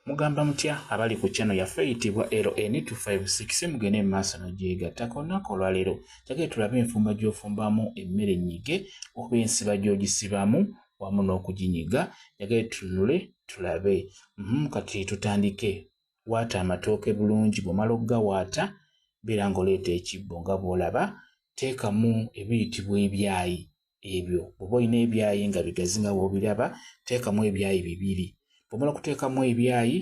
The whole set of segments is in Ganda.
mugamba mutya abali ku channel yaffe eyitibwa LN256 mugende mu maaso n'ogyegattako olunaku olwaleero jagee tulabe enfumba gy'ofumbamu emmere ennyige oba ensiba gy'ogisibamu wamu n'okuginyiga jagee tunule tulabe mm, kati tutandike waata amatooke bulungi bwomala okugawaata beera ng'oleeta ekibbo nga bw'olaba teekamu ebiyitibwa ebyayi ebyo bwoba olina ebyayi nga bigazi nga wobiraba teekamu ebyayi bibiri bwomala okuteekamu ebyayi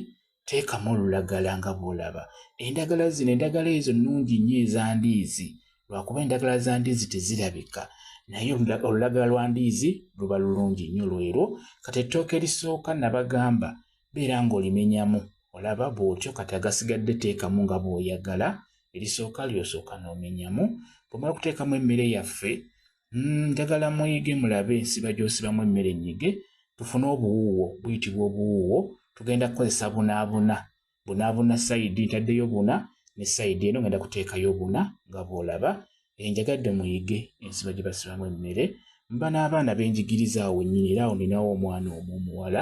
teekamu olulagala nga bwolaba endagala zino endagala ezo nnungi nnyo ezandiizi lwakuba endagala za ndiizi tezirabika naye olulagala lwa ndiizi luba lulungi nnyo lwero kati ettooka erisooka nabagamba beera ng'olimenyamu olaba bwotyo kati agasigadde teekamu nga bwoyagala erisooka lyosooka n'omenyamu bwomala okuteekamu emmere yaffe mm, njagala mm, muyige mulabe ensiba gyosibamu emmere enyige tufune obuwuuwo buyitibwa obuwuuwo tugenda kukozesa bunaabuna bunaabuna sayidi ntaddeyo buna ne sayidi eno ngenda kuteekayo buna nga bwolaba enjagadde muyige ensiba gye basibamu emmere mba n'abaana benjigiriza awo wennyini era awo ninawo omwana omu omuwala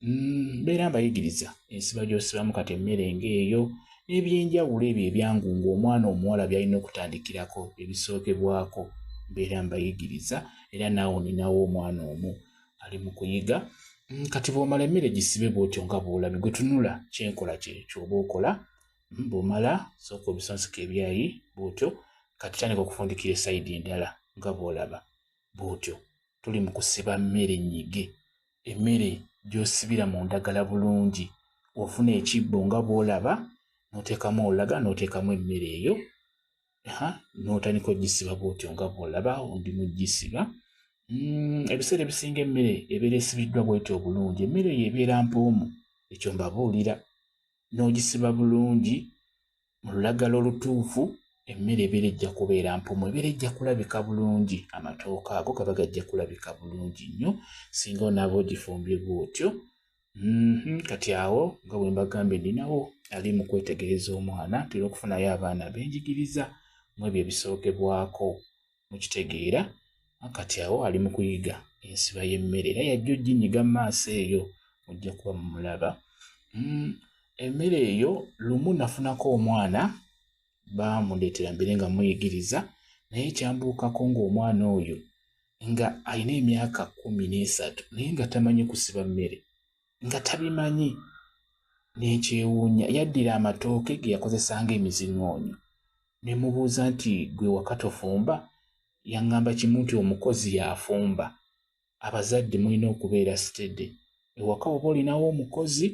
mm, mbeera mbayigiriza ensiba gy'osibamu kati emmere ng'eyo n'ebyenjawulo ebyo ebyangu ng'omwana omuwala by'alina okutandikirako ebisookebwako mbeera mbayigiriza era naawe ninawo omwana omu ali mu kuyiga mm, kati bw'omala emmere gisibe bw'otyo nga bw'olabi gwe tunula kyenkola kye kyoba okola mm, bw'omala sooka obisonsika ebyayi bw'otyo kati tandika okufundikira esayidi endala nga bw'olaba bw'otyo tuli mu kusiba mmere nnyige emmere gy'osibira mu ndagala bulungi ofuna ekibbo nga bw'olaba n'oteekamu olaga n'oteekamu emmere eyo ha n'otandika ogisiba bw'otyo nga bw'olaba ondi mu gisiba mm, ebiseera ebisinga emmere ebeera esibiddwa bw'etyo obulungi emmere eyo ebeera mpoomu ekyo mbabuulira n'ogisiba bulungi mu lulagala olutuufu emmere ebeera ejja kubeera mpumu ebeera ejja kulabika bulungi amatooka ago gaba gajja kulabika bulungi nnyo singa onaaba ogifumbye bwotyo mhm, kati awo nga bwe mbagambye ninawo ali mu kwetegereza omwana tera okufunayo abaana benjigiriza mu ebyo ebisookebwako mukitegeera kati awo ali mu kuyiga ensiba y'emmere era yajja ojjinyiga mu maaso eyo mujja kuba mumulaba mm, emmere eyo lumu nafunako omwana baamuleetera mbere nga muyigiriza naye kyambuukako ng'omwana oyo nga alina emyaka kumi n'esatu naye nga tamanyi kusiba mmere nga tabimanyi n'ekyewuunya yaddira amatooke ge yakozesa ng'emiziŋoonyo ne mubuuza nti gwe waka tofumba yaŋŋamba kimu nti omukozi y'afumba abazadde mulina okubeera sitede ewaka oba olinawo omukozi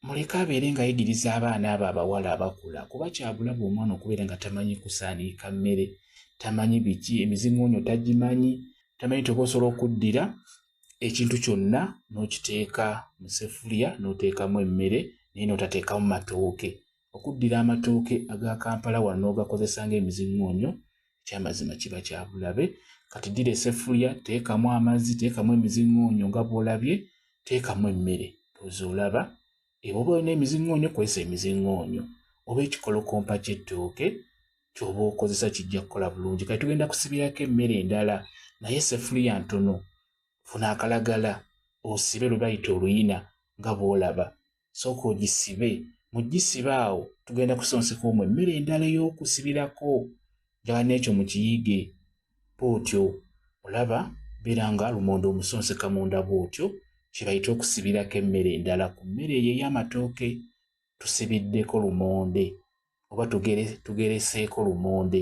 muleke abeere ng'ayigiriza abaana abo abawala abakula kuba kyabulabe omwana okubeera nga tamanyi kusaaniika mmere tamanyi biki emiziŋoonyo tagimanyi tamanyi toba osobola okuddira ekintu kyonna n'okiteeka mu sefuliya n'oteekamu emmere naye n'otateekamu matooke okuddira amatooke aga kampala wano n'ogakozesa ng'emiziŋŋoonyo ekyamazima kiba kya bulabe kati ddira esefuliya teekamu amazzi teekamu emiziŋŋoonyo nga bw'olabye teekamu emmere oze olaba eba oba olina emiziŋŋoonyo kozesa emiziŋŋoonyo oba ekikolokompa ky'ettooke kyoba okozesa kijja kukola bulungi kati tugenda kusibirako emmere endala naye sefuliya ntono funa akalagala osibe lwe bayita oluyina nga bwolaba sooka ogisibe mugisibe awo tugenda kusonseka omwo emmere endala ey'okusibirako njagala n'ekyo mukiyige bwotyo olaba beera nga lumonde omusonseka munda bwotyo kyebayita okusibirako emmere endala ku mmere eyo ey'amatooke tusibiddeko lumonde oba tugereseeko lumonde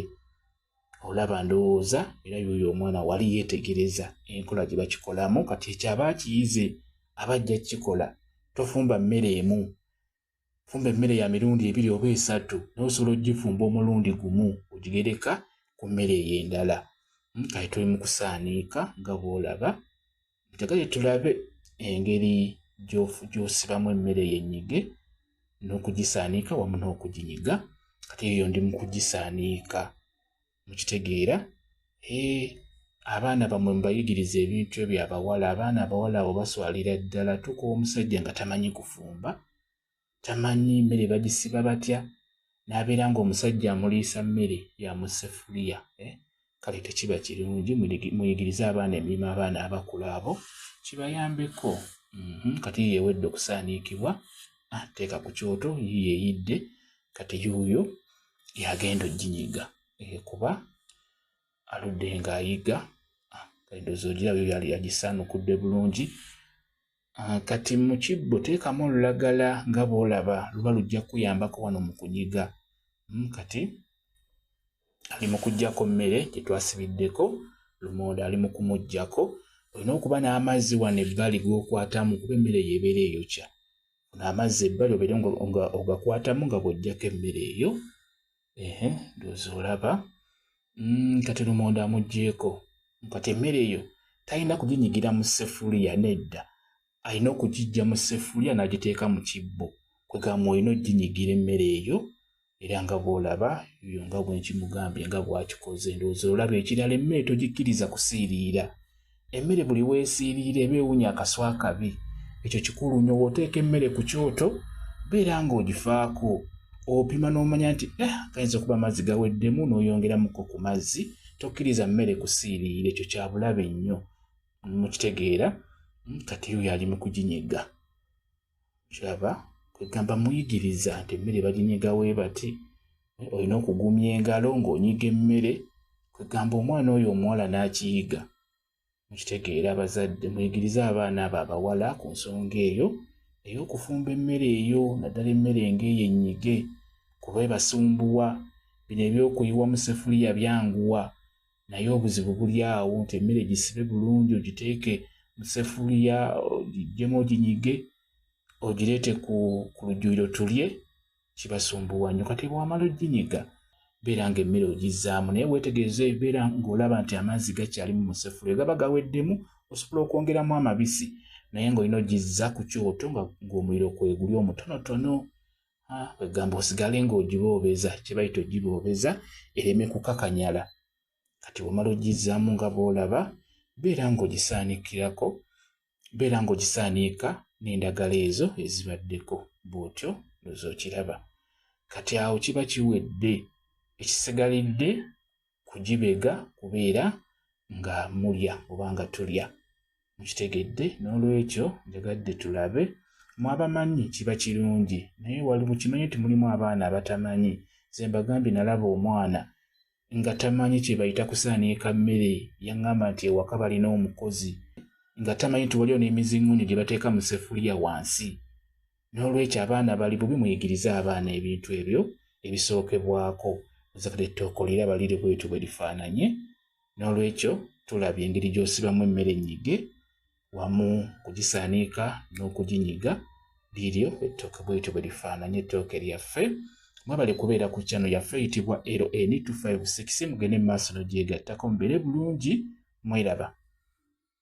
olaba ndowooza era yoyo omwana wali yeetegereza enkola gye bakikolamu kati ekyaba akiyize aba ajja kukikola tofumba mmere emu fumba emmere ya mirundi ebiri oba esatu naye osobola okugifumba omulundi gumu ogigereka ku mmere eyo endala hmm, kati tuli mu kusaaniika nga bw'olaba njagale tulabe engeri gy'osibamu emmere yenyige n'okugisaanika wamu n'okuginyiga kati eyo ndi mu kugisaanika mukitegeera ee abaana bamwe mubayigiriza ebintu ebyo abawala abaana abawala abo baswalira ddala tuka omusajja nga tamanyi kufumba tamanyi mmere bagisiba batya n'abeera ng'omusajja amuliisa mmere ya mu sefuliya eh? kale tekiba kirungi muyigirize abaana emirimu abaana abakulu abo kibayambeko mhm, kati yewedde okusaaniikibwa ah, teeka ku kyoto yeyidde kati yuuyo yagenda ojinyiga eh, kuba aludde ng'ayiga ah, edozi ogirabyo yali yagisaanukudde bulungi Ah, kati mu kibbo teekamu olulagala nga bw'olaba luba lujja kukuyambako wano mu kunyiga hmm, kati ali mu kuggyako mmere gye twasibiddeko lumonde ali mu kumuggyako olina okuba n'amazzi wano ebbali g'okwatamu kuba emmere eyo ebeera eyokya funa amazzi ebbali obeere nga ogakwatamu nga bw'oggyako emmere eyo ehe ndozi olaba mm, kati lumonde amugyeko kati emmere eyo talina kuginyigira mu sefuliya nedda alina okugijja mu sefuliya n'agiteeka mu kibbo kwegamba olina oginyigira emmere eyo era nga bwolaba yo nga bwenkimugambye nga bwakikoze ndowooza olaba ekirala emmere togikkiriza kusiiriira emmere buli weesiiriira eba ewunya akaswa akabi ekyo kikulu nyo wooteeka emmere ku kyoto beera ng'ogifaako opima n'omanya nti eh, gayinza okuba amazzi gaweddemu n'oyongeramuko ku mazzi tokkiriza mmere kusiiriira ekyo kya bulabe nnyo mukitegeera hmm, kati yo yali mu kuginyega kiraba kwegamba muyigiriza nti emmere baginyiga we bati olina okugumya engalo ng'onyiga emmere kwegamba omwana oyo omuwala n'akiyiga mukitegeera abazadde muyigirize abaana abo abawala ku nsonga eyo naye okufumba emmere eyo naddala emmere ng'eyo ennyige kuba ebasumbuwa bino ebyokuyiwa mu sefuliya byanguwa naye obuzibu buli awo nti emmere gisibe bulungi ogiteeke musefuliya ogigyemu oginyige ogireete ku lujjuliro tulye kibasumbuwa nyo kati bwamala oginyiga beera nga emmere ogizzaamu naye weetegereza ebeera ng'olaba nti amazzi gakyalimu musefuliya gaba gaweddemu osobola okwongeramu amabisi naye ng'olina ogizza ku kyoto ng'omuliro kweguli omutonotono kwegamba osigale ng'ogiboobeza kyebayita ogiboobeza ereme kukakanyala kati wamala ogizzaamu nga bw'olaba beera ng'ogisaanikirako beera ng'ogisaaniika n'endagala ezo ezibaddeko bw'otyo loza okiraba kati awo kiba kiwedde ekisigalidde kugibega kubeera nga mulya oba nga tulya mukitegedde n'olwekyo njagadde tulabe mwabamanyi kiba kirungi naye wali mukimanye nti mulimu abaana abatamanyi ze mbagambye nalaba omwana nga tamanyi kye bayita kusaaneeka mmere yaŋŋamba nti ewaka balina omukozi nga tamanyi nti waliwo n'emizingunyo gye bateeka mu sefuliya wansi n'olwekyo abaana bali bubi muyigirize abaana ebintu ebyo ebisookebwako muzakade ettooko lira balire bwetyo bwe lifaananye n'olwekyo tulabye engeri gy'osibamu emmere ennyige wamu kugisaniika n'okuginyiga liryo ettooke bwetyo bwe lifaananye ettooke lyaffe mwebale kubeera ku kyano yaffe eyitibwa ln256 mugende mu maaso nogyegattako mubeere bulungi mweraba